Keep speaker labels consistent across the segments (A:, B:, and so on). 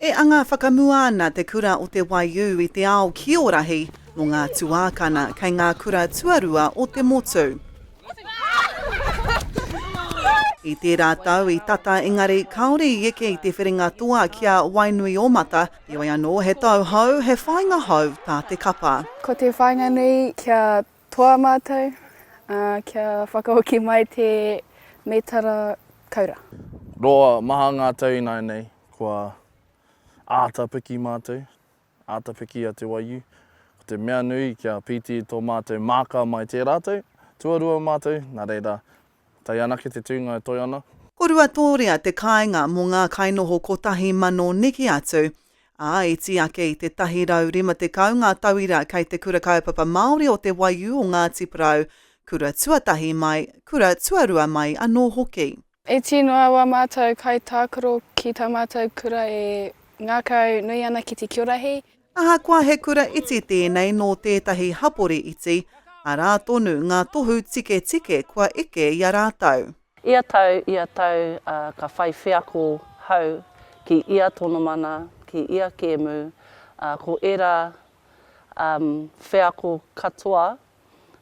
A: E anga whakamua ana te kura o Te Waiū i te ao kiorahi mō ngā tuākana kei ngā kura tuarua o te motu. I tērā tau i tata engari kāore i eke i te whiringa toa ki a Wainuiōmata, heoi anō he tau hou, he whāinga hou tā te kapa. Ko te whāinga nui
B: kia Toa mātou, ā, kia whakahoki mai te mētara koura. Roa
C: maha ngā tau ināianei kua āta piki mātou, āta piki a Te Waiū. Ko te mea nui kia pīti tō mātou māka mai tē rātou, tuarua mātou, nā reira, tae anake te tūnga e toe ana. Ko Ruatōrea
A: te kāinga mō ngā kainoho kotahi mano neke atu, ā, i tī ake i te 150 ngā tauira kei te Kura Kaupapa Māori o Te Waiū o Ngāti Porou, kura tuatahi mai, kura tuarua mai anō hoki. E tino awa
B: mātou kaitākaro ki tā mātou kura e ngākau nui ana ki te kiorahi. Ahakoa he
A: kura iti tēnei nō tētahi hapori iti, arā tonu ngā tohu tiketike kua eke i a rātou. Ia tau,
D: ia tau, ā, ka whai wheako hau ki ia tonomana, ki ia kēmu, ā, ko ērā, um, wheako katoa,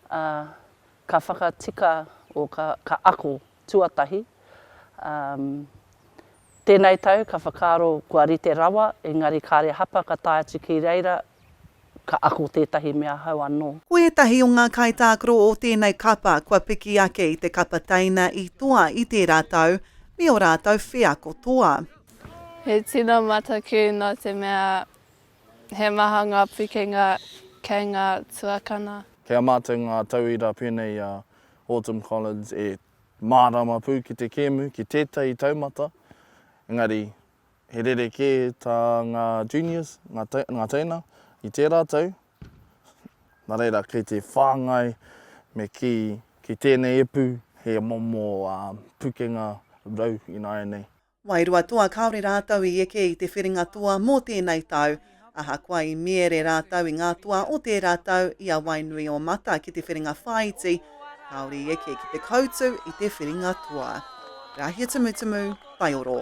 D: ā, ka whakatika, or ka, ka ako tuatahi, um, Tēnei tau ka whakaaro kua rite rawa, engari kāre hapa ka tae atu ki reira ka ako tētahi mea hou anō. Ko ētahi o ngā
A: kaitākaro o tēnei kapa kua piki ake i te kapa teina i toa i tērā tau me o rātou wheako toa. He
B: tino mataku nō te mea he maha ngā pikinga kei ngā tuakana. Kei a mātou ngā
C: tauira pēnei i a Autumn Collins et. Mārama pū ki te kēmu, ki tētahi taumata, engari he rerekē tā ngā juniors, ngā teina, i tērā tau. Nā reira, kei te whāngai me kī, ki tēnei ipu, he momo pukenga rau ināianei. Wairua toa kāore
A: rātou i eke i te whiringa toa mō tēnei tau, ahakoa i miere rātou i ngā toa o tērā tau i a Wainuiomata ki te whiringa whāiti, kāore i eke ki te koutu i te whiringa toa. Rahia Tumutumu, Whaioro.